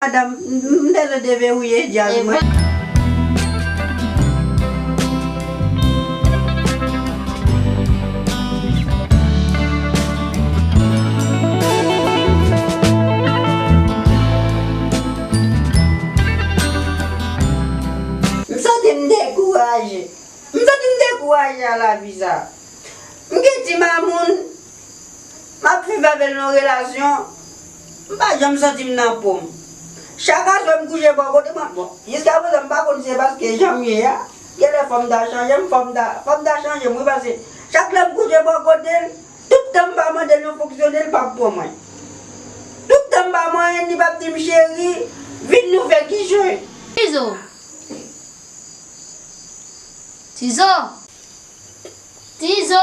Madam m bezwen deverrouye djazz mwen. M santi m dekouraje. M santi m dekouraje a lavi sa. M gen ti mamoun. M ap viv avè l nan relasyon. M pa janm santi m nan po m. Chak aswè m kouche bò kote mwen, bon, jiskaprezan m pa konn si se paske jan m ye a, genlè fò m ta chanje m, fò m ta, fò m ta chanje m wi paske chak lè m kouche bò kote l, tout tan m pa mande l yon fonksyone l pap pran mwen. Tout tan m pa manyen l li pap di m cheri, vin nou fè kichòy. Tizo! Tizo! Tizo!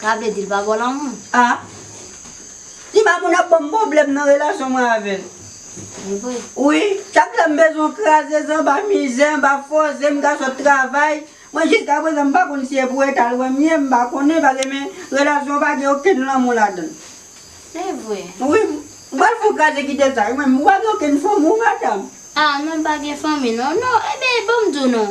Sa vle di l pa baw lanmou? Ah Ti Mamoun ap banm pwoblèm nan relasyon mwen avè l Evre? Wi, chak lèm bezwen w kraze zan ba mizè anba fòse m ka sot travay Mwen jiska prezan m pa konn si e pou eta l wè m ye m pa konnen pase men relasyon an pa gen okenn lanmou ladan l Evre? Wi, m pral fon kraze kite sa wi men m ou pa gen okenn fanmi wi madam? Ah non m pa gen fanmi non non Ebyen banm di w non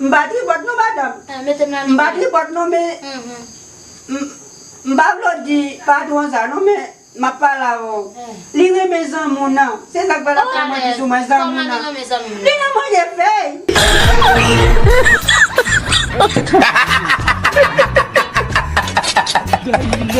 M pa tripòt non madam. M pa tripòt non men m pa vle w di patwon sa non men m ap pale avè w. Li renmen zanmi w nan. Se sa k fè l ap fè manti sou mwen zanmi w nan. Li nan manje fèy.